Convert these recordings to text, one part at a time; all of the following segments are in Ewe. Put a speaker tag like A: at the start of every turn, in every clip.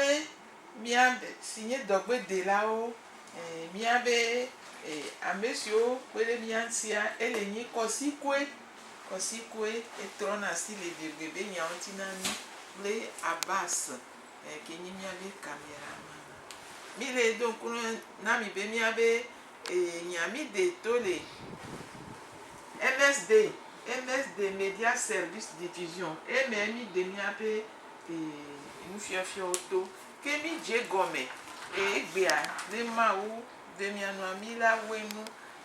A: Be mía, si nye dɔgbedelawo, ɛɛ, mía be, ɛɛ, ame siwo kpe ɖe mía ŋutia, ele nyi kɔsikue, kɔsikue, etrɔna asi le biebiẽ be nyawo ŋuti na mí kple Abbas, ɛɛ, ke nyi mía be kameraman. Mí le ɖo ŋku ne, na mi be mía be, ɛɛ, nya mí ɖe to le MSD, MSD, Media Service Division, eme mí ɖe mía be Nufiɔfiɔwo to ke mi dze egɔme le egbea be Mawu ɖe mia nu ami la woe nu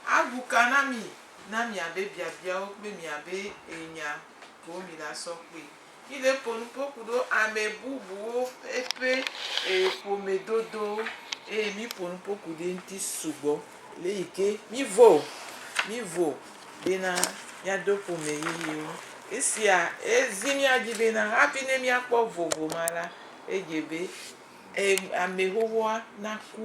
A: agu ka na mi na mia be biabiawo kple mia be enya ko mi la sɔ kpe. Mi le ƒo nu ƒo ku ɖo ame bubuwo eƒe ƒome dodowo eye mi ƒo nu ƒo ku ɖe ŋuti sugbɔ le yi ke mi vɔ o, mi vɔ o. Bena míado ƒome yeyewo. Esia zi mía dzi bena hafi ne míakpɔ vovo ma la, edze be ame xoxoa naku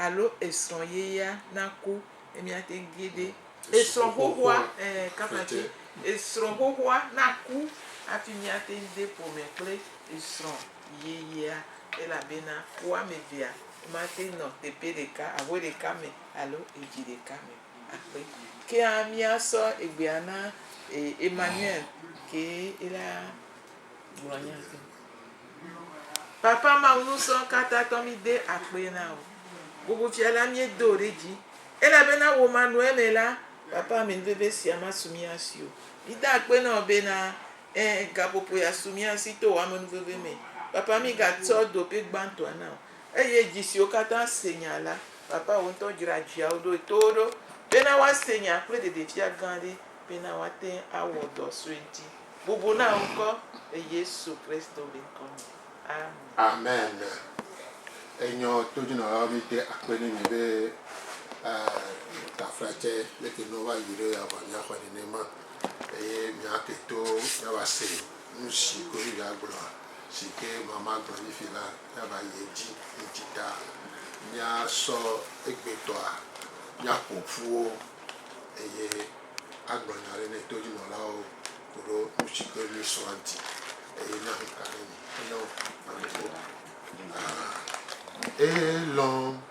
A: alo esrɔ̃ yeyea naku ne míate ŋu ge ɖe esrɔ̃ xoxoa, kapati, esrɔ̃ xoxoa naku hafi míate ŋu de ƒome kple esrɔ̃ yeyea, elabena wo ame evea mate ŋu nɔ teƒe ɖeka, aƒe ɖeka me alo edzi ɖeka me o. akpe. Kea mía sɔ egbea na e Emmanuel ke ela gblɔ nya ke. Papa Mawu nusɔ kata tɔ mi de akpe na o. Bubu fia la mi do ɖe dzi. Elabena wò ma nɔe me la, papa ame veve sia ma su mía si o. Mi da akpe na wò bena ẽ gaƒoƒo ya su mía si to wò amenuveve me. Papa mi ga tsɔ dope gbãtɔa na wò. Eye dzi siwo katã se nya la, Papa wò ŋutɔ dzra dziawo ɖoe to wo ɖo, bena woase nya kple ɖeɖefia gã aɖe, bena woate ŋu awɔ dɔ sue ŋuti. Bubu na wò ŋkɔ, le Yesu Kristo be ŋkɔ me. Amen.
B: Amen. Enyɔ to jinɔlawo mi de akpe ne mi be tafra tse leke no va yi ɖo ya vɔ mia xɔe nenema eye mia ke to mia va se nusi koɖo ya gblɔa si ke mama gblɔ mi fi la. Eva yi edzi yi dzi ta. Míasɔ egbetɔa, míaƒo ƒu wo eye agblɔ nya ɖe ne todzinɔlawo koɖo nu tsi ke míesɔa ŋuti eye ne ŋu ka ɖe mi. Enyo, ame ɖeka. Aa, elɔ̃.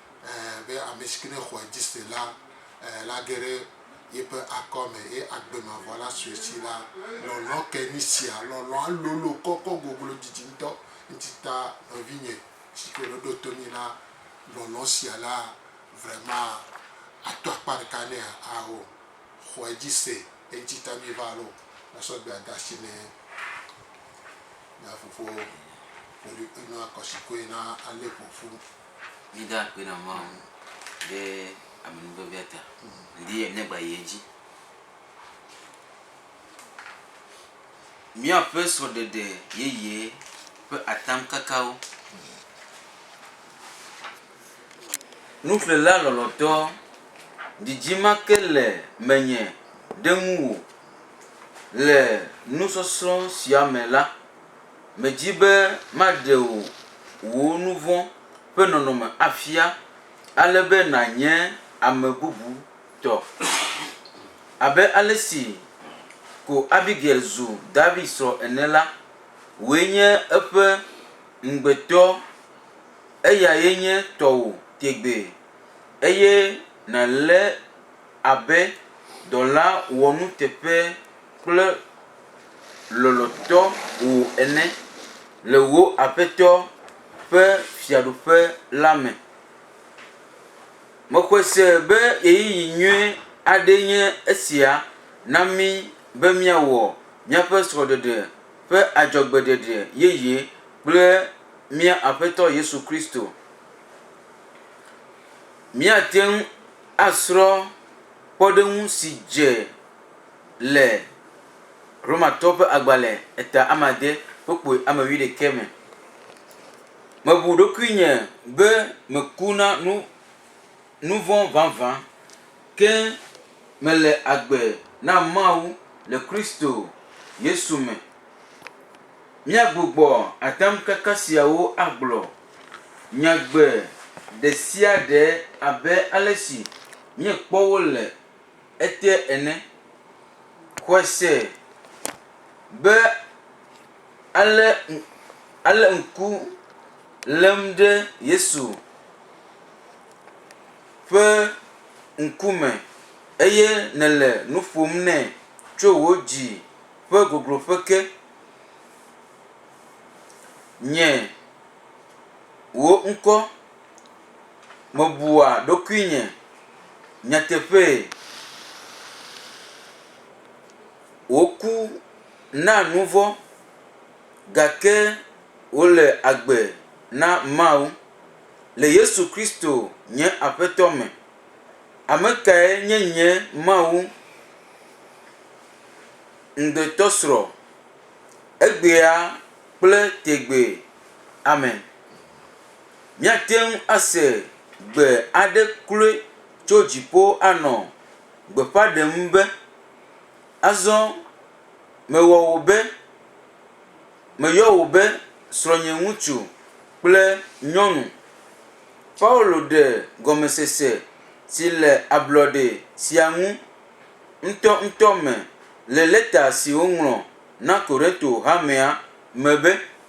B: be ametsike ne xɔe dzi se la, la ge ɖe yeƒe akɔ me, eye agbe mavɔ la sue si la, lɔlɔ ke nyi sia. Lɔlɔa lolo kɔkɔ goglo didi ŋutɔ ŋti ta nɔvinye si ke ɖo ɖoto mi la, lɔlɔ sia la vrema ato akpa ɖeka ne ao, xɔe dzi se eŋti ta mi va lo na sɔ gbe ada si ne mia fofowo, ƒoɖi enua kɔsi koe na ale ƒoƒu. Míeda akpe
C: na Mawu ŋu ɖe amenuvevea ta. Midi be míagba yi edzi. Míaƒe srɔ̃ɖeɖe yeye ƒe atamkakawo. Nuƒlela lɔlɔ̃tɔ, didi ma ke le menye ɖe ŋuwò. Le nusɔsrɔ̃ sia me la, Medi be maɖe wò wò nu vɔ̃ ƒe nɔnɔme afia ale be nànye ame bubu tɔ, abe ale si ko Abigail zu David srɔ̃ ene la, wòe nye eƒe ŋugbetɔ, eyae nye tɔwò tegbee, eye nàlée abe dɔla wɔnuteƒe. kple lɔlɔ̃tɔ wò ene le wò Aƒetɔ ƒe Fiaɖuƒe la me. Mexɔe se be ɣeyiɣi nyui aɖee nye esia na mí be míawɔ míaƒe srɔ̃ɖeɖe ƒe adzɔgbeɖeɖe yeye kple mía Aƒetɔ Yesu Kristo. Míate ŋu asrɔ̃ kpɔɖeŋu si dze le Romatɔwo ƒe agbalẽ eta amade kpokpui ame wuiɖekɛ me. Mebu ɖokuinye be meku na nu, nuvɔ̃ vavã, ke mele agbe na Mawu le Kristo Yesu me. Míagbugbɔ atamkaka siawo agblɔ nyagbe ɖesiaɖe abe alesi míekpɔ wo le. eteɛ ene. Xɔse be ale ale ŋku lém ɖe Yesu ƒe ŋkume eye nèle nu ƒom nɛ tso wò dzi ƒe gogloƒe ke. Nye wò ŋkɔ. Mebua ɖokuinye nyateƒee. Woku na nu vɔ̃ gake wole agbe na Mawu. Le Yesu Kristo nye Aƒetɔ me, ame kae nye nye Mawu ŋugbetɔsrɔ̃ egbea kple tegbee? Amen. Míate ŋu ase gbe aɖe kloe tso dziƒo anɔ gbeƒã ɖem be, Azɔ mewɔ wò be, meyɔ wò be srɔ̃nyeŋutsu kple nyɔnu. Paulo ɖe gɔmesese si le ablɔɖe sia ŋu ŋutɔŋutɔ me le lɛta si wòŋlɔ na Korinto hamea me be,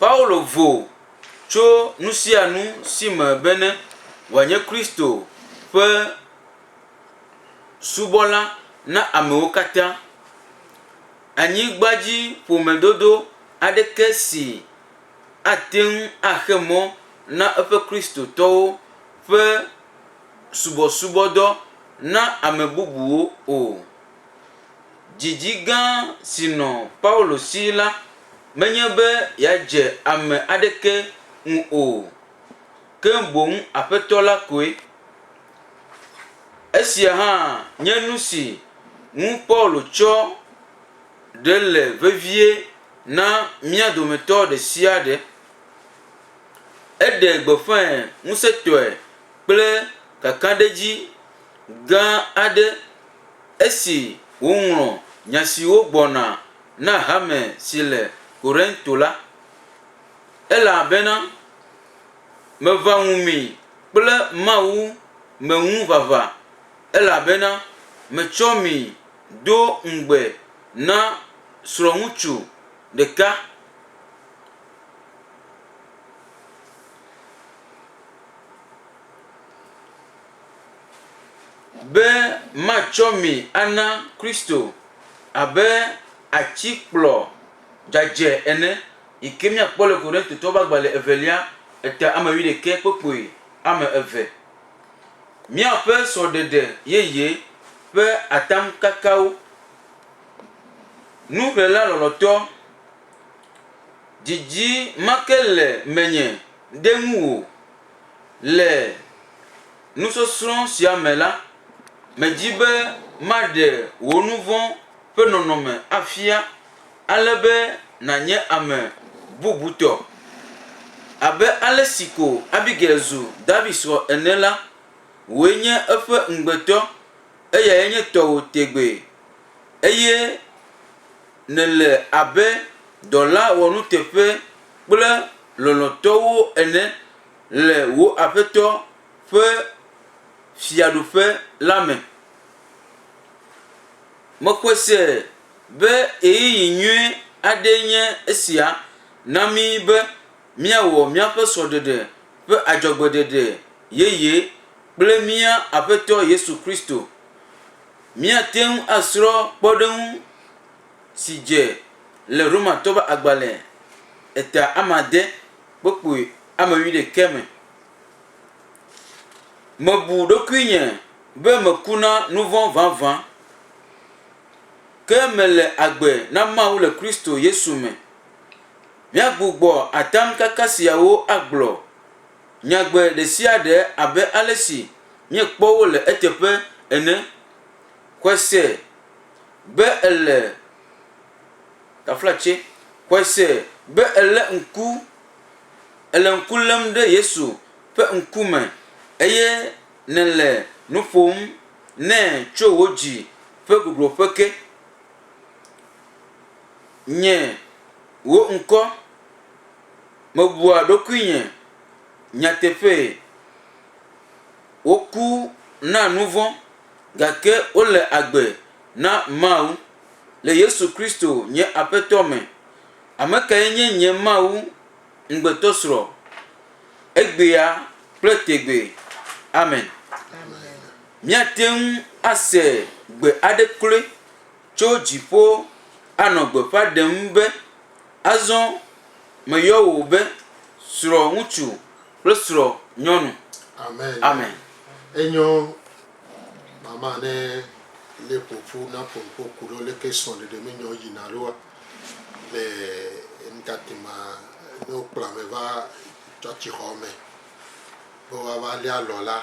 C: Paulo vo tso nu sia nu si me bene wòanye Kristo ƒe subɔla na amewo katã. Anyigbadziƒomedodo aɖeke si ate ŋu axe mɔ na eƒe Kristotɔwo ƒe subɔsubɔdɔ na ame bubuwo o. Didi gã si nɔ Paulo si la menye be yeadze ame aɖeke ŋu o, ke boŋ Aƒetɔ la koe. Esia hã nye nu si ŋu Paulo tsɔ ɖe le vevie na mía dometɔ ɖe sia ɖe. Eɖe gbeƒãe ŋusẽtɔe kple kakaɖedzi gã aɖe. Esi wòŋlɔ nya siwo gbɔna na hame si le Korinto la, ele bena, Meʋã ŋu mi kple Mawu me ŋu vava, elabena metsɔ mi do ŋugbe na srɔ̃ŋutsu ɖeka, be matsɔ mi ana Kristo abe atikplɔ dzadzɛ ene, yi ke míakpɔ le Korintotɔwo ƒe agbalẽ evelia, eta ame wuiɖekɛ kpe kpui ame eve. Míaƒe srɔ̃ɖeɖe yeye ƒe atamkakawo. Nuxlẽla lɔlɔ̃tɔ, didi ma ke le menye ɖe ŋuwò. Le nusɔsrɔ̃ sia me la, medi be maɖe wò nu vɔ̃ ƒe nɔnɔme afia ale be nànye ame bubutɔ. Abe ale si ko Abigail zu David srɔ̃ ene la, wòe nye eƒe ŋugbetɔ, eyae nye tɔwò tegbee, eye nèle abe dɔla wɔnuteƒe kple lɔlɔ̃tɔwo ene le wò Aƒetɔ ƒe Fiaɖuƒe la me. Mexɔe se be ɣeyiɣi nyui aɖee nye esia na mí be míawɔ míaƒe srɔ̃ɖeɖe ƒe adzɔgbeɖeɖe yeye kple mía Aƒetɔ Yesu Kristo. Míate ŋu asrɔ̃ kpɔɖeŋu. si dze le Romatɔwo ƒe agbalẽ eta amade kpokpui ame wuiɖekɛ me. Mebu ɖokuinye be meku na nuvɔ̃ vavã, ke mele agbe na Mawu le Kristo Yesu me. Míagbugbɔ atamkaka siawo agblɔ nyagbe ɖesiaɖe abe alesi míekpɔ wo le eteƒe ene. Xɔse. be èle taflatse. Xɔe se be èlé ŋku, èle ŋku lém ɖe Yesu ƒe ŋkume eye nèle nu ƒom nɛ tso wò dzi ƒe gogloƒe ke. Nye wò ŋkɔ, mebua ɖokuinye nyateƒee. Woku na nu vɔ̃, gake wole agbe na Mawu. Le Yesu Kristo, nye Aƒetɔ me, ame kae nye nye Mawu ŋugbetɔsrɔ̃, egbea kple tegbee. Amen. Míate ŋu ase gbe aɖe kloe tso dziƒo anɔ gbeƒã ɖem be, Azɔ meyɔ wò be srɔ̃ŋutsu kple srɔ̃nyɔnu. Amen. Enyɔ
B: mama ne le ƒoƒu na ƒoƒo kuɖo leke srɔ̃ ɖeɖe me nyɔ yina ɖoa le ntate ma ne wo kplɔ ame va tsɔtsi xɔ me be woava lé alɔ la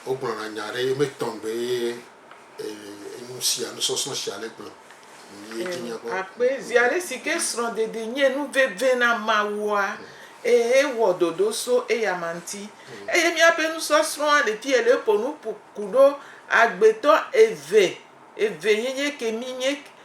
B: wo gblɔna nya ɖe ye me tɔŋgbe ye
A: Akpe viaɖe si ke srɔ̃ɖeɖi nye nu veve na Mawua, eye ewɔ ɖoɖo so eyama ŋuti. Eye míaƒe nusɔsrɔ̃a le fi ye le eƒo nu ƒo ku ɖo agbetɔ eve, eve ye nye ke mi nye.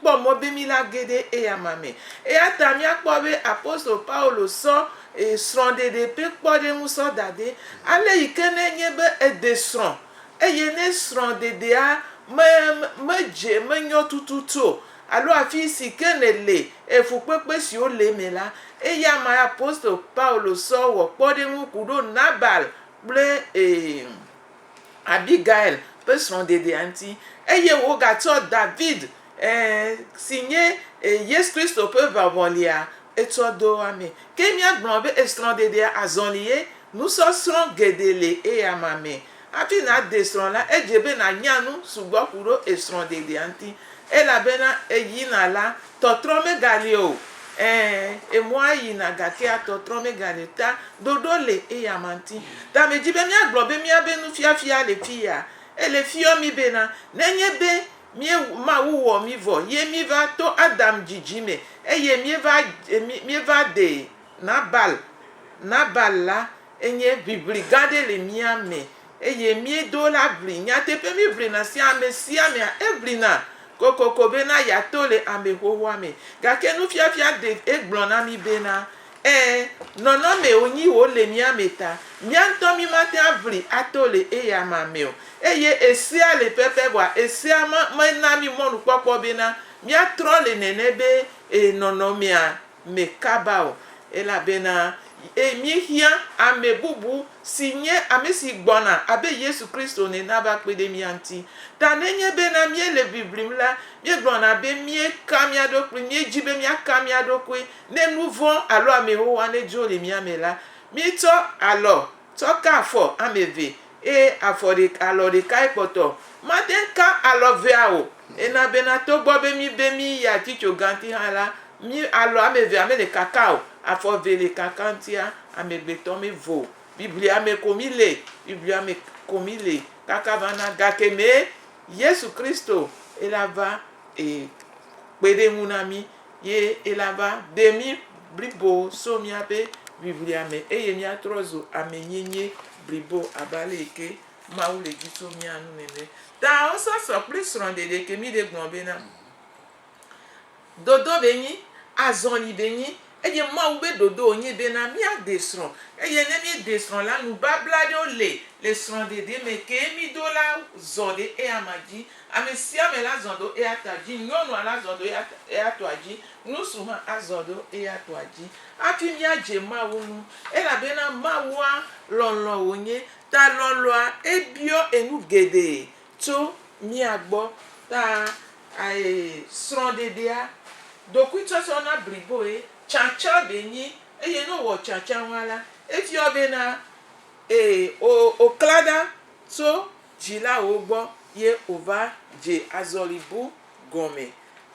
A: kpɔ mɔ be míla ge ɖe eya ma me. Eya ta míakpɔ be apostolo Paulo sɔ srɔ̃ɖeɖe ƒe kpɔɖeŋu sɔ da ɖɛ ale yi ke ne enye be ède srɔ̃ eye ne srɔ̃ɖeɖea medze, menyɔ tututu o alo afi si ke nèle, fukpekpe siwo le eme la, eya mae apostolo Paulo sɔ wɔ kpɔɖeŋu ku ɖo Nabal kple. Abigail ƒe srɔ̃ɖeɖea ŋuti, eye wogatsɔ David, e, si nye e, Yesu Kristo ƒe ʋaʋɔlia, etsɔ ɖo amee. Ke míagblɔ be esrɔ̃ɖeɖea azɔlie? Nusɔsrɔ̃ geɖe le eyama me. Hafi nàɖe srɔ̃ la, edze be nànya nu sugbɔ ku ɖo esrɔ̃ɖeɖea ŋuti, elabena eyina la, Tɔtrɔ megale o, ẽ, emɔa yina gakea tɔtrɔ megale o, ta ɖoɖo le eyama ŋti. Ta medi be miagblɔ be miabe nufiafia le fiya. Ele fiɔ mi bena, nenye be mie, Mawu wɔ mi vɔ ye miva to Adam dzidzi me eye mieva, mieva de Nabal, Nabal la enye ʋiʋli gã ɖe le mia me Eye míedo la ʋli. Nyateƒe míeʋlina sia amesiamea, eʋlina kokoko bena yeato le ame xoxoa me. Gake nufiafia Dave egblɔ na mí bena, Ẽ, nɔnɔmee wonyi wòle mía me ta. Mía ŋutɔ mímate ŋu aʋli ato le eyama me o. Eye esea le pɛpɛ vɔa esea mena mí mɔnukpɔkpɔ bena míatrɔ le nene be, ẽ, nɔnɔmea me kaba o, elabena míehiã ame bubu si nye ame si gbɔna abe Yesu Kristo ene nava kpe ɖe mía ŋuti. Ta nenye bena míele ʋiʋlim la, míegblɔna be míeka mía ɖokui, míedi be míaka mía ɖokui ne nu vɔ̃ alo ame xoxoa nedzo le mía me la, míetsɔ alɔ Tsɔ ka afɔ ame eve, eye afɔ ɖeka, alɔ ɖekae kpɔtɔ. Mate ŋu ka alɔ evea o. Ena bena togbɔ be míbe míyi atitso ganti hã la, mí, alɔ ame evea mele kaka o. Afɔ eve le kaka ŋutia, amegbetɔ mevo o. Biblia me ko míle. Biblia me ko míle kaka va na gakemee Yesu Kristo ela va e kpe ɖe ŋu na mí. ye elava ɖe mí blibo so míaƒe ʋiʋlia me eye míatrɔ zu ame nyenye blibo abe ale yi ke Mawu le di tso mía ŋu nene. Taosɔsɔ kple srɔ̃ɖeɖeke mí ɖe gblɔ bena, Dodo ɖe nyi, azɔli ɖe nyi eye Mawu be dodo wo nye bena míade srɔ̃ eye ne míede srɔ̃ la, nubabla aɖewo le le srɔ̃ɖeɖe me ke mí do la zɔ ɖe eya ma dzi Amesiame la zɔ ɖo eya ta dzi, nyɔnua la zɔ ɖo eya tɔa dzi, ŋutsu hã azɔ ɖo eya tɔa dzi hafi míadze Mawu ŋu, elabena Mawua lɔlɔ̃ wònye, ta lɔlɔ̃a ebiɔ enu geɖe tso mía gbɔ. Ta ae srɔ̃ɖeɖea, ɖokuitsɔtsɔ na bliboe, tsãtsã ɖee nyi, eye ne wòwɔ tsãtsã ŋua la, efiɔ bena e, o, oklã ɖa tso dzilawo gbɔ ye wòva dze azɔli bu gɔme.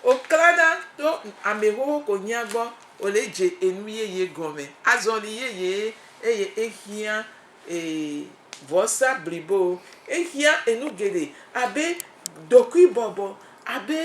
A: Wòklãna to amexoxo konyea gbɔ wòle dze enu yeye gɔme, azɔli yeye, eye ehiã vɔsa blibowo. Ehiã enu geɖe abe ɖokuibɔbɔ, abe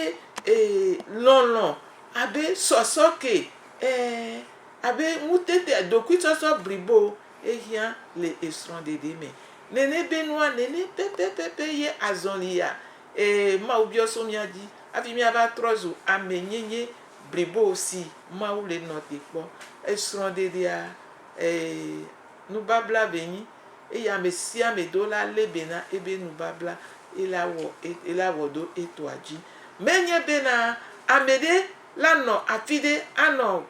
A: lɔlɔ̃, abe sɔsɔke, ɛɛ, abe ŋutete, ɖokuisɔsɔ blibo. Ehiã le esrɔ̃ɖeɖe me nene be nua nene pɛpɛpɛpɛ ye azɔli ya. Ɛɛ, Mawu biɔ so mía dzi hafi míava trɔ zu ame nyenye blibo si Mawu le nɔ te kpɔ. Esrɔ̃ɖeɖea, ɛɛ, nubabla be nyi, eye ame sia ame do la lé be na ebe nubabla ye la wɔ e, ye la wɔ ɖo etɔa dzi. Menye bena ame ɖe la nɔ afi ɖe anɔ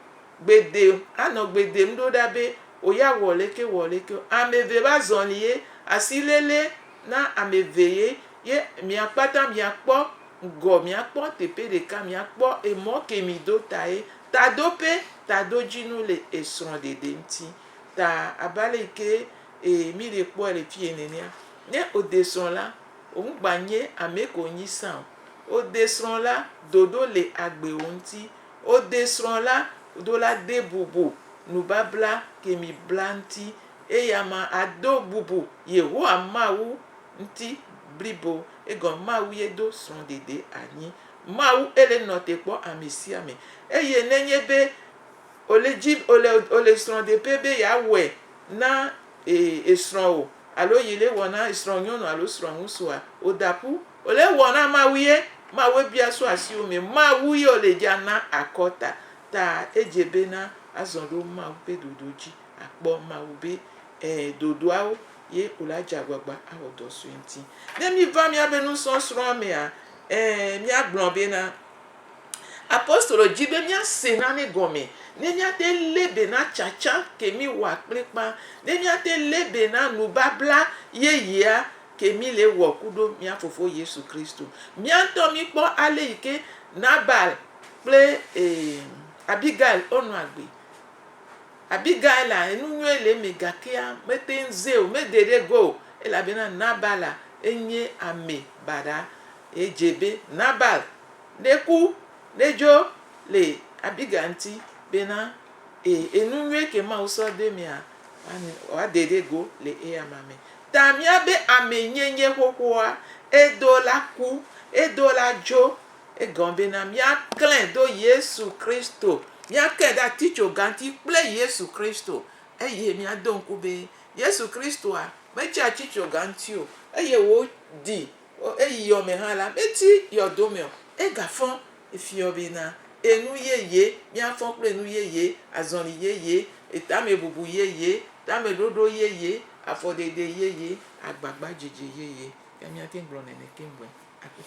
A: Gbe dem, anɔ gbe dem ɖo ɖa be wò ya wɔ leke wɔ leke o. Ame eve ƒe azɔli ye, asi lele na ame eve ye, ye mia kpata mia kpɔ ŋgɔ, mia kpɔ teƒe ɖeka, mia kpɔ emɔ ke mi do ta ye. Tadoƒe, tadodzinu le esrɔ̃ ɖeɖe ŋuti. Ta abe ale yi ke ee mi le kpɔe le fiye nenea. Ne wò de srɔ̃ la, wò ŋu gba nye ame ke wò nyi sa o. Wò de srɔ̃ la, ɖoɖo le agbe wò ŋuti. Wode srɔ̃ la do la de bubu nubabla kemi bla ŋuti, eye ame ado bubu Yehowa Mawu ŋuti blibo. Egɔme Mawu ye do srɔ̃ɖeɖe anyi. Mawu ele nɔte kpɔ ame sia ame. Eye nenye be ole dzi ole ole srɔ̃ɖeƒe be yeawɔe na e esrɔ̃ o alo yele wɔ na esrɔ̃ nyɔnu alo srɔ̃ ŋutsua, woda ƒu. Ole wɔ na Mawu ye, Mawue bia so asiwo mɛ, Mawu ye ole dja na akɔ ta, ta edje be na azɔ ɖo Mawu be dodo dji, akpɔ Mawu be e dodoawo, ye ole adje agbagba awɔ dɔ sue ŋti. Ne mi va miabe nusɔsrɔa mea, e mia gblɔ be na Apostolo dji be mia se nane gɔme, ne mia te le be na tsatsa ke mi wɔa kplikpa, ne mia te le be na nubabla yeyea, ke mí le wɔ kuɖo mía Fofo Yesu Kristo. Mía ŋutɔ mí kpɔ ale yi ke Nabal kple e Abigail wo nɔ agbe. Abigaila enu nyuie le eme gakea me te ŋu ze o, me de ɖe go o elabena Nabala enye ame baɖa. E dze be Nabal ne ku ne dzo le Abigail ŋuti bena e enu nyuie ke Mawu sɔ do emea wa de ɖe go le eyama me. Ta mía be amee nye nye xoxoa, edo la ku, edo la dzo. Egɔme bena mía klɛ do Yesu Kristo, mía kɛ ɖe atitsoga ŋuti kple Yesu Kristo, eye mía do ŋku be Yesu Kristoa me tsi atitsoga ŋuti o, eye wò ɖi O eyi yɔ me hã la, meti yɔdo me o, egafɔ efiɔ bena, Enu yeye, míafɔ kple enu yeye, azɔli yeye, etamebubu yeye, tameɖoɖo yeye, afɔɖeɖe yeye, agbagbadzedze yeye. Ke míate ŋu gblɔ nene keŋ vɔe akpɔ.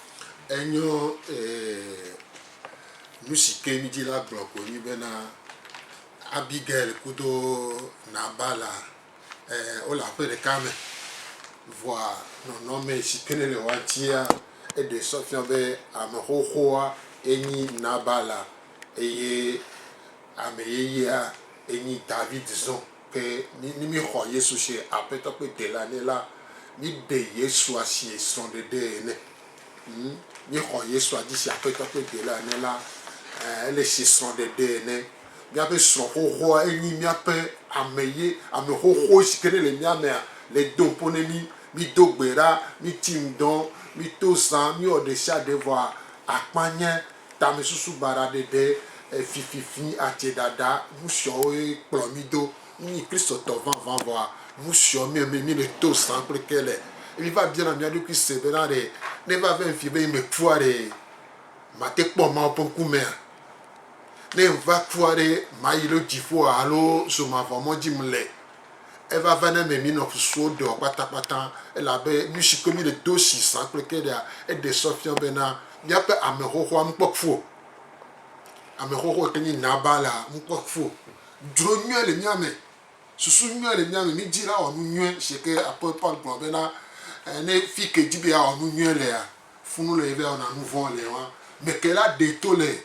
A: Enyo,
B: ɛɛ, nusi ke midi la gblɔ koe nye bena Abigail kudo Nabala. Wole aƒe ɖeka me vɔa nɔnɔme si ke ne le woa ŋutia eɖe sɔ fia be ame xoxoa enyi Nabal eye ame yeyea enyi David zɔ. Ke ne míexɔ Yesu se Aƒetɔ kple Dela nɛ la, míeɖe Yesua sie srɔ̃ɖeɖee ene. Ŋu míexɔ Yesua dzi zi Aƒetɔ ƒe Delã ene la, ele si srɔ̃ɖeɖe ene. Míaƒe srɔ̃ xoxoa enyi míaƒe ame ye ame xoxo si ke ne le mía mea le do ŋpo ne mí. Mído gbe ɖa, míti ŋdɔ, míto zã, míwɔ ɖesiaɖe vɔ akpa nye tamesusu baɖa ɖeɖe, fififi, adze ɖaɖa, nusiɔwoe kplɔ mí do Mí Kristotɔ vavãvɔa, nu siɔ mía mɛ míle to zã kple ke le. Ye míva biana mía ɖokui se bena ɖe ne va vem fiẽ be yi me kua ɖe mate kpɔ Mawu ƒe ŋku mea? Ne ŋva kua ɖe mayi lo dziƒoa alo zomavɔ mɔ dzi mle? Eva va na mɛ mínɔ susuwo ɖeɔ kpatakpata elabe nu si kpe míle do si zã kple ke ɖea eɖe sɔ fia bena míaƒe amexoxoa ŋkpɔ ƒu o. Amexoxo yi ke nyi Nabala ŋkpɔ ƒu Dzro nyuie le mía me. Susu nyuie le mía me. Mídi la wɔ nu nyuie. Zi ke apoel Paul gblɔ be na ne fi ke di be yeawɔ nu nyuie lea, fu nu le ye be awɔna nu vɔ̃ le wa me ke la ɖee to le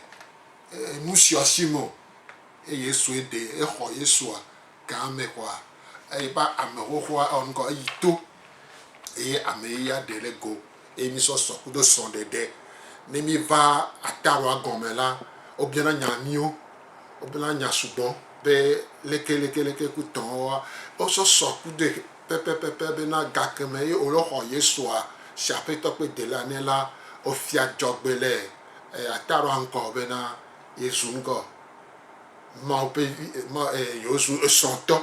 B: nu sia si me o. Eye Yesue ɖe exɔ Yesua gã me kɔa eƒe ame xoxoa ewɔ nu kɔ eyi to eye ame yeye aɖe le go. eye mísɔ sɔ kudo srɔ̃ɖeɖe. Ne míva Atarwa gɔme la, wobiana nya míwo. Wobiana nya sugbɔ be leke, leke, leke ku tɔ woa? Wosɔ sɔ kudoe pɛpɛpɛpɛ bena gakeme ye wole xɔ Yesua si Aƒetɔ kple Delila nɛ la, wofia dzɔgbe le Atarwa ŋkɔ bena yezu ŋgɔ Mawu ƒe Vi, Mawu, e, yewozu esrɔ̃tɔ.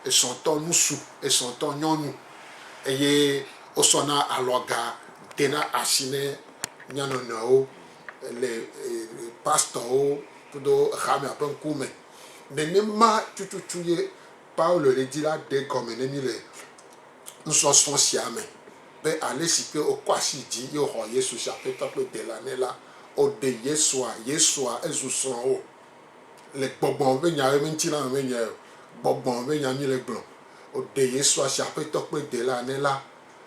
B: Esɔtɔ ŋutsu, esɔtɔ nyɔnu eye wosɔna alɔga dena asi ne mía nɔnɔewo le pastorwo kudo xamea ƒe ŋkume. Nenema tututu ye Paulo le di la ɖe gɔme ne mí le nusɔsrɔ̃ sia me be ale si ke wokɔ asi dzi ye woxɔ Yesu zi Aƒetɔ kple Dela nɛ la, woɖe Yesua, Yesua, ezu srɔ̃wò. le gbɔgbɔn be nya be ŋti la me be nye gbɔgbɔn be nya mi le gblɔ o ɖe yesu asi aƒetɔ kpe de la ne la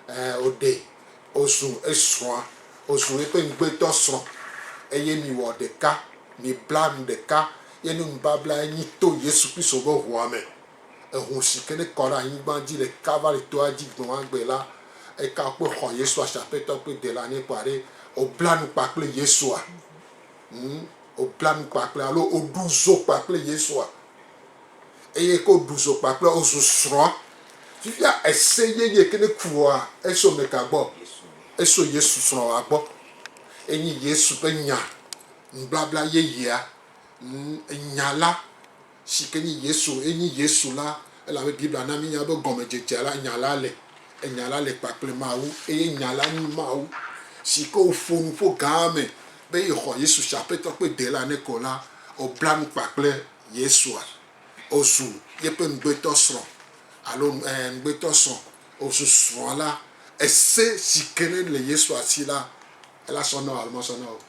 B: e o ɖe o zu esrɔa o zu eƒe ŋgbe tɔ srɔ eye mi wɔ ɖeka mi bla nu ɖeka ye nu nubabla ye nyi to yesu kristo be ʋua me eʋu si ke ne kɔ ɖe anyigba dzi le kalvari toa dzi gbe ma gbe la eka o kpe xɔ yesu asi aƒetɔ kpe de la ne kɔa ɖe o bla nu kpa kple yesua. ŋu wobla nu kpakple alo woɖu zo kpakple Yesua eye ke woɖu zo kpakple wozu srɔ̃a. Fifia ese yeye ke ne kua eso me ka gbɔ? Eso Yesu srɔ̃a gbɔ. Enye Yesu ƒe nya, nubabla yeyea, nya la si ke nye Yesu ye nye Yesu la, elabe Biblia na mínya be gɔmedzedzea la, Nya la le, Nya la le kpakple Mawu, eye Nya la nye Mawu. Si ke wòƒo nu ƒo gã eme be yexɔ Yesu si Aƒetɔ kple Dela ne ko la, wòbla nu kpa kple Yesua. Wòzu yeƒe ŋugbetɔsrɔ̃, alo, ɛ̃, ŋugbetɔsrɔ̃. Wòzu srɔ̃a la. Ese si ke ne le Yesua si la, ela sɔ na wò alo masɔ na wò o?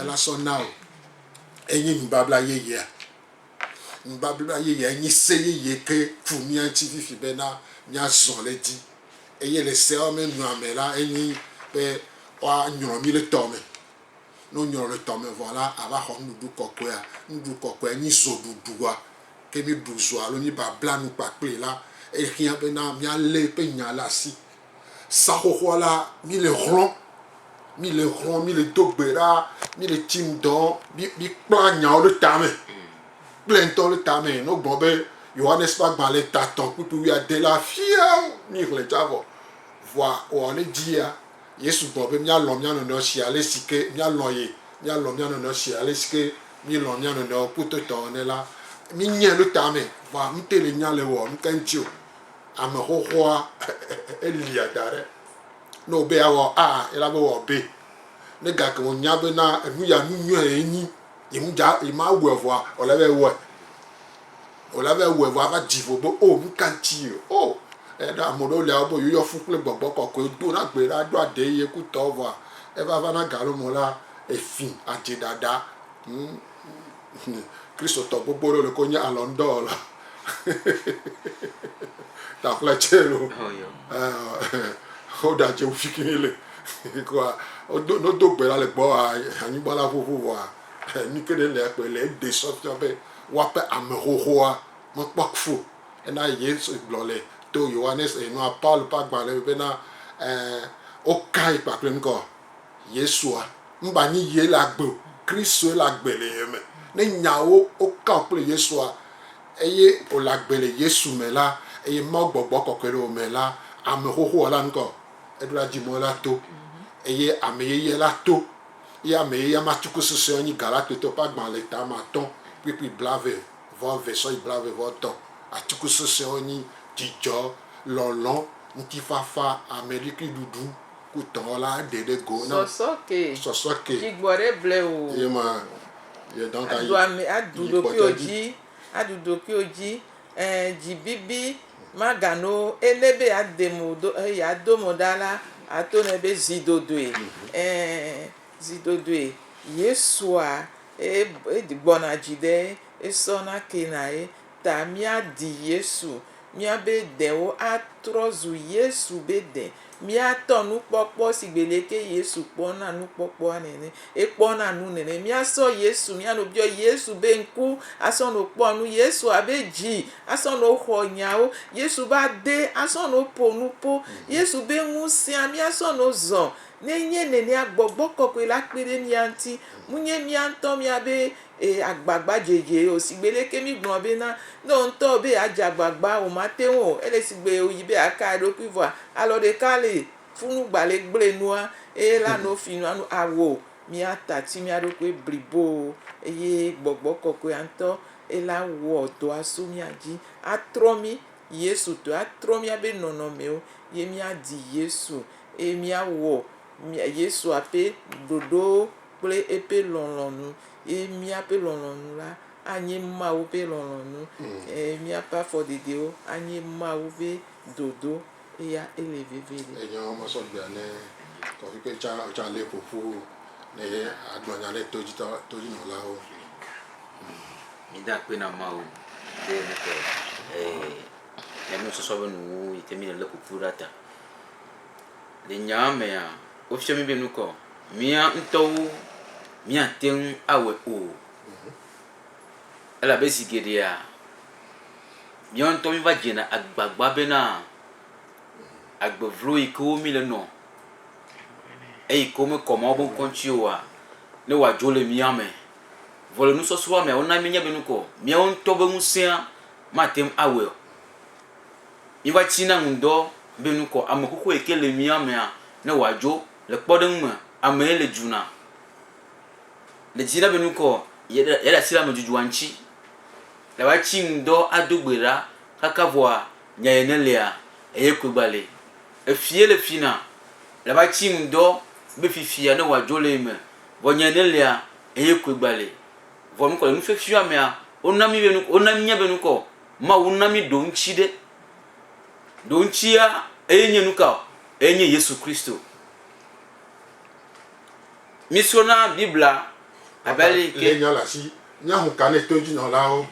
B: Ela sɔ na wò. enye nubabla yeyea? Nubabla yeyea enye se yeye ke ku mía ŋuti fifi bena míazɔ le edzi. Eye le seawo me nua me la, enye be woanyrɔ mí le tɔ me. Ne wonyrɔ le tɔ me vɔ la, ava xɔ Nuɖuɖu Kɔkɔea. Nuɖuɖu Kɔkɔea nye zɔɖuɖua. Ke míeɖu zɔ alo míebabla nu kpakplii la, ehiã bena míalé eƒe Nya ɖe asi Sa xoxoa la, mí le xlɔ̃, mí le xlɔ̃, mí le do gbe ɖa, mí le tsi ŋdɔ, mí mí kpla nyawo ɖe ta me. Kplɛ ŋutɔ ɖe ta me. Ne wogblɔ be Yohanes ƒe agbalẽ ta tɔ̃ kpukpu wuiade la, fia mí xlẽ tsa vɔ. Vɔa wɔ ne dzi ya. Yesu gblɔ be mía lɔ̃ mía nɔnɔewo si ale si ke mía lɔ̃ ye. Mía lɔ̃ mía nɔnɔewo si ale si ke mí lɔ̃ mía nɔnɔewo kpototɔ ene la. Mí nyɛ ɖe ta me. Vɔa ŋutɛ le nya le wɔ nu ka ŋuti o. Ame xoxoa elia da ɖe ne wòbe yeawɔ a, ela be wòawɔ be. Ne gake wònya bena enu ya nu nyuie ye nyi, ye ŋu dza, ye mawɔe vɔa, wòle be ewɔe. Wòle be ewɔe vɔ ava dzi vo be o nu ka ŋuti ye o. Eya ta ame ɖewo lia wobe yewoyɔ fu kple gbɔgbɔ kɔkɔe dona gbe ɖa ɖo aɖee ye kutɔ vɔa, eva vana galome la, efi adze ɖaɖa. Hm. Kristotɔ gbogbo ɖewo le ko nye alɔn dɔ wɔla. Ta ƒle tse lo. Wo da je ufi kini le. Koa odo no do gbe la le gbɔ a anyigba la ƒoƒo vɔ a ni ke ne le akpe le de sɔ fia be wa pe ame xoxoa me kpɔ kfo. Ena Yesu gblɔ le to Yohanes e nua Paul pa gba le be na e o kai kpakple ŋkɔ. Yesua, mba nyi yie le agbe o, Kristoe le agbe le ye me. Ne nyawo woka wò kple Yesua eye wòle agbe le Yesu me la eye Mawu gbɔgbɔ kɔkɔe le wò me la, ame xoxoa la ŋkɔ eɖo la dzi mɔ la to eye ame yeyea la to ye ame yeyea ma tsuku susɔe nyi Galatotɔ ƒe agbalẽ le tame atɔ kplikpli blave vɔ eve sɔyi blave vɔ tɔ atsuku susɔewo nyi dzidzɔ, lɔlɔ, ŋutifafa, ameɖikiɖuɖu. Kutɔ la ɖe ɖe go na. Sɔsɔ ke. Sɔsɔ ke. Tsi gbɔ ɖe ble
A: o. Ye ma
B: ye dɔn ka yi. Aɖu ame aɖu ɖokuiwo dzi.
A: Aɖu ɖokuiwo dzi. E dzi bibi ma ga no e ne be ya de mo do e ya do mo ɖa la a to ne be zi dodoe e zi dodoe Yesua e e gbɔna dzi ɖe e sɔ na ke na ye. ta míadi Yesu, míabe dewo atrɔ zu Yesu be de, míatɔ nukpɔkpɔ si gbe leke Yesu kpɔna nukpɔkpɔa nene, ekpɔna nu nene. Míasɔ Yesu, míanɔ biɔ Yesu be ŋku, asɔ nɔ kpɔ nu, Yesu abe dzi, asɔ nɔ xɔ nyawo, Yesu be ade, asɔ nɔ ƒo nuƒo, Yesu be ŋusẽa, míasɔ nɔ zɔ. Ne enye nenea, gbɔgbɔ kɔkɔe la kpe ɖe mía ŋuti. Munye míaŋutɔ míabe Ee, agbagba dzedzee o. Sigbe ɖe ke mígblɔ bena, ne wò ŋutɔ wɔ be yeadze agbagba, wòmate ŋu o. Ele sigbe wòyi be yeaka eɖokui vɔa, alɔ ɖeka li, funu gba le gblẽ nua, eye la no fi nua nu awo. Míata tsi mía ɖokui bliboo, eye Gbɔgbɔ Kɔkɔea ŋutɔ ye la wɔ dɔa so mía dzi, atrɔ mí Yesu tɔe, atrɔ míabe nɔnɔmewo, ye míadi Yesu, eye míawɔ Yesua ƒe ɖoɖowo kple eƒe lɔlɔ̃nu, ye míaƒe lɔlɔ̃nu la anye Mawu ƒe lɔlɔ̃nu, eye míaƒe afɔɖeɖewo anye Mawu ƒe dodo, eya ele vevie ɖe. Enya ma sɔ gbea
B: ne kɔƒikpe tsã wotsã lée ƒo ƒu ne agblɔ nya ɖe to dzi tɔ todzinɔlawo nu.
C: Mìde akpe na Mawu be míeƒe enusɔsrɔ̃ ƒe nuwuwu yi ke míele lé ƒo ƒu ɖa ta. Le nyaa mea, wofia mí be nukɔ mía ŋutɔwo míate ŋu awɔe o, elabe zi geɖea míawo ŋutɔ míeva dzena agbagba bena agbe vlo yi ke wo míle nɔ eyi ke womekɔ Mawu ƒe ŋkɔ ŋuti oa, ne wòadzo le mía me. Vɔ le nusɔsrɔ̃a mea, wona míenya be nukɔ míawo ŋutɔ be ŋusẽa mate ŋu awɔe o. Yehowa tsina nu dɔ be nukɔ ame xoxo yi ke le mía mea ne wòadzo. Le kpɔɖeŋu me, amee le dzuna. Le dzina be nukɔ yeaɖe yeaɖe asi ɖe ame dzodzroa ŋuti. Le woatsi nu dɔ ado gbe ɖa kaka vɔa, nya ye ne lia, eye koe gba li. Efie le fina. Le woatsi nu dɔ be fifia ne wòadzo le ye me, vɔ nya ye ne lia, eye koe gba li. Vɔ nukɔ le nu fiɔfiɔ amea. Wona mí be nu wona mínya be nukɔ Mawu na mí ɖoŋtsi ɖe. Ɖoŋtsia eye nye nuka o? Eye nye Yesu Kristo. Mí srɔna Biblia abe ale yi ke. Lé nya le asi. Mía
B: ŋu ka ne to dzi nɔlawo?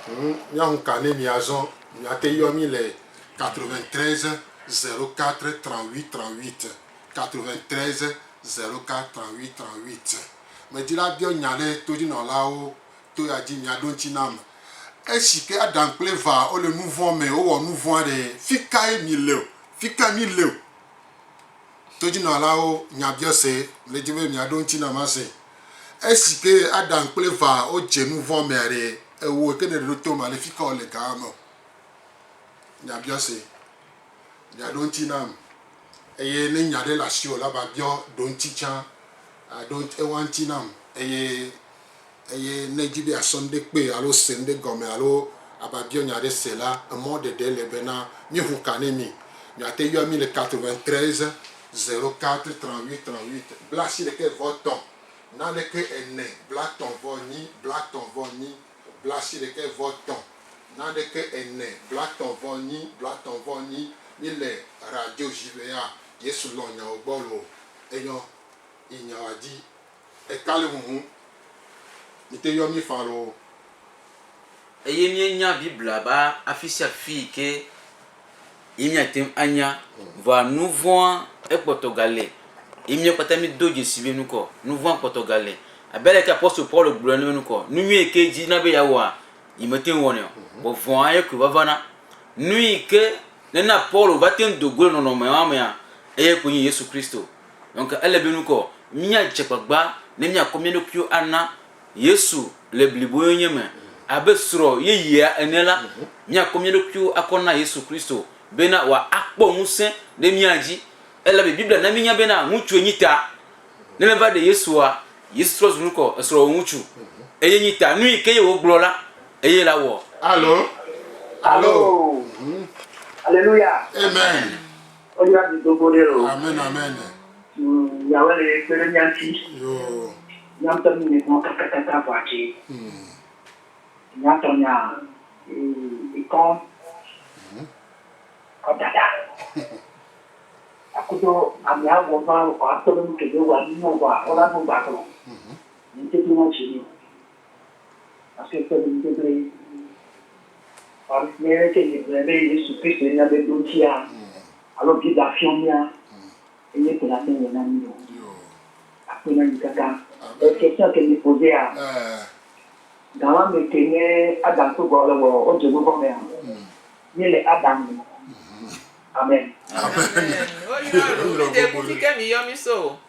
B: Ŋ, mía ŋu ka ne mía zɔn? Mía te yɔ mí le. 93 04 38 38, 93 04 38. Medi la biɔ nya ɖe to dzi nɔlawo. To ya dzi miaɖo ŋuti na ame. Esi ke Adam kple Eva wole nu vɔ̃ me, wowɔ nu vɔ̃ aɖe, fi kae mi le o? Fi kae mi le o? Todzinɔlawo nya biɔ se. Mele dim be miaɖo ŋuti nam ase. Esi ke Adam kple Eva wodze nu vɔ̃ mea ɖe, ewò ke nèɖo to ma ɖe, fi ka wòle ga ame o? Nya biɔ se. Miaɖo ŋuti nam. Eye ne nya aɖe le asiwò la, va biɔ ɖoŋuti tsã. Aɖo eŋua ŋuti nam eye. Eye ne èdi be àsɔ nuɖe kpee alo se nuɖe gɔme alo ava biɔ nya aɖe se la, emɔ ɖeɖe le bena míeŋu ka ne mí. Miate yɔa mí le 93 04 38 38, blaasiɖeke vɔ tɔ̃, naneke ene, blatɔ̃ vɔ nyi, blatɔ̃ vɔ nyi, blaasiɖeke vɔ tɔ̃, naneke ene, blatɔ̃ vɔ nyi, blatɔ̃ vɔ nyi. Míle radio Gibea, Yesu lɔ̃ nyawo gbɔ loo. Enyɔ yi nyawoa di. Eka le huhum mìte yɔ mí fã loo.
C: Eye míenya Biblia be afisiafi yi ke ye míate ŋu anya, vɔa nuvɔ̃a ekpɔtɔ gale, ye mía kpata mído dzesi be nukɔ nuvɔ̃a kpɔtɔ gale. Abe ale ke apostolo Paulo gblɔ ene be nukɔ nunyui yi ke dzi na be yeawɔa, yemete ŋu wɔnɛ o, vɔ vɔ̃a ye koe vavana. Nu yi ke nena Paulo va te ŋu do go le nɔnɔme ma mea, eye koe nye Yesu Kristo. Donk ele be nukɔ míadze gbagba ne míakɔ mía ɖokuiwo ana Yesu le bliboyonye me. Abe srɔ̃ yeyea ene la, míakɔ mía ɖokuiwo akɔ na Yesu Kristo bena wòakpɔ ŋusẽ ɖe mía dzi, elabe Biblia na míenya bena ŋutsue nyi ta. Ne meva ɖe Yesua, Yesu trɔ zu nukɔ esrɔ̃wòŋutsu, eye nyi ta. Nuyi ke ye wògblɔ la, eye la wɔ. Alo.
B: Alo.
D: Alo. Aleluya. Amen.
B: Woyra mi
D: do go ɖe o. Amen amen.
B: Yahweh
D: le kpe ɖe mía ŋuti. Mía
B: ŋutɔ mí nɔe
D: kpɔm kakakaka vɔ adze. Nya tɔ nya ekɔ kɔ dada. Akudo ame awɔ va akpɔ ɖe nu kebe wa nu nɔ vɔa wola nu gba gblɔ. Ŋutete na dzi ni. Ase kpe ɖom kpekpe. Ame aɖeke si gblɔe be Yesu Kristoe nye ame ɖotia alo Biblia fiam mía eye ko nàte ŋu awɔ na mí o. Akpe na mí katã. Le Christian ke mí posea, Gã ma me ke nye Adam kple Xɔa le wɔ wo dzodoƒe mea? Mí le Adam me. Amen. Amen. Amen.
A: Woyra lo. Mí de kusi ke mí yɔ mí so o.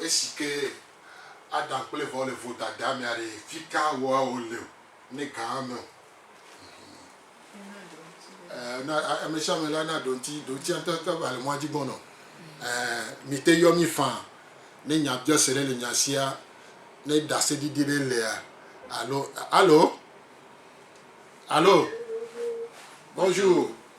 B: Esi ke Adam kple Evawo le vodadea mea ɖe fika woawo le o ne gãa me o. Ɛɛ amesiame la na ɖoŋti, ɖoŋtia ŋutɔ ƒe ʋa le mɔa dzi gbɔnɔ. Ɛɛ mite yɔ mí faa ne nyabiɔse ɖe le nya sia, ne ɖaseɖiɖi ɖe lea alo. Alo? Alo? Bonjour.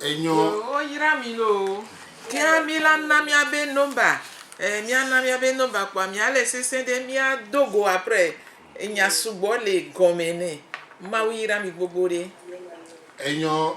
B: Enyo. Yoo yra mi loo.
A: Tia mi la na mia be number. Eh mia na mia be number kpoa mia le sese ɖe mia do go apre enya sugbɔ le gɔme ne. Mawu yra mi gbogbo ɖe. Enyo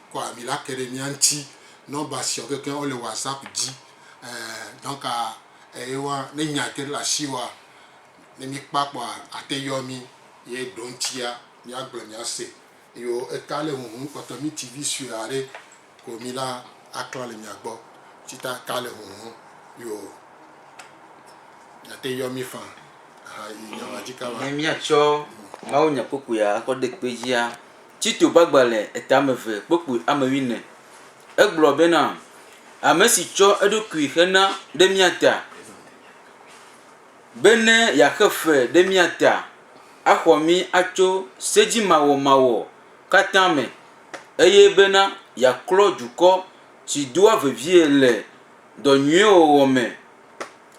B: kɔ ami la ke ɖe mía ŋuti. Nɔmba siawo kekeŋ wole WhatsApp dzi. Donc eye wa ne nya ke ɖe le asiwòa, ne míkpɔa kpɔa, ate ayɔ mí ye eɖoŋutia míagblɔ míase. Yo eka le huhum kpɔtɔ mí TV sue aɖe ko mí la aklã le mia gbɔ. Ci ta eka le huhum yo mìate yɔ mí fã ahayi nya ma dzi kaba. Ne míatsɔ
C: mawunyakpukpuia akɔ ɖe kpe dzia, Tito ƒe agbalẽ etame eve kpokpui ame wuiene. Egblɔ bena, Ame si tsɔ eɖokui xe na ɖe mía ta, be ne yeaxe fe ɖe mía ta axɔ mí atso sedzimawɔmawɔ katã me, eye bena yeaklɔ dukɔ si doa vevie le dɔ nyuiwo wɔwɔ me.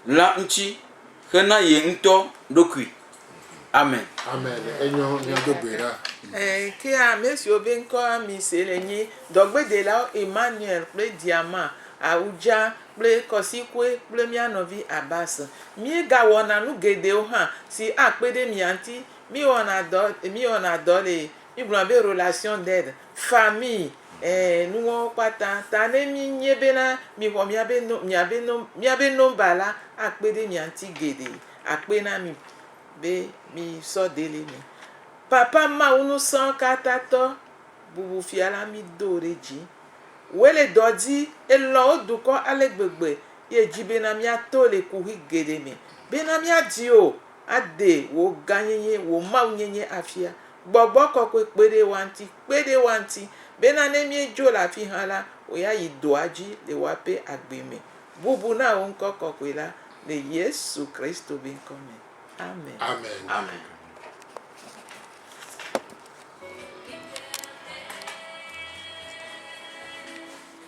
C: La ŋuti xe na ye ŋutɔ ɖokui. Amen. Amen. Enyɔ
B: mia do gbe ɖa. Ẽ, ke
A: ame siwo be ŋkɔ Amis le nye dɔgbedelawo Emmanuel kple Diama, Ahuja kple Kɔsikue kple mía nɔvi Abbas. Míegawɔna nu geɖewo hã si akpe ɖe mia ŋuti. Míewɔna dɔ, míewɔna dɔ le Mi gblɔna be relation d'aide, famille, ɛɛ nuwɔwɔ kpata. Ta ne mi nye be na mi xɔ mia be nom, mia be nom, mia be nomba la, akpe ɖe mia ŋuti geɖe. Akpe na mi be mi sɔ deli mi. Papa Mawu ŋusɔkatãtɔ bubu fia la mi do wò ɖe dzi. Wòe le dɔ di, elɔ̃ wò dukɔ ale gbegbe ye edzi be na mia to le kuxi geɖe me be na mia di wò Ade wò gãnyenye, wò Mawunyenye afia. Gbɔgbɔ kɔkɔe kpe ɖe woa ŋuti, kpe ɖe woa ŋuti, bena ne míedzo le afi hã la, wòayi dɔa dzi le woaƒe agbe me. Bubu na wò ŋkɔ kɔkɔe la, le Yesu Kristo be ŋkɔ me. Amen. Amen.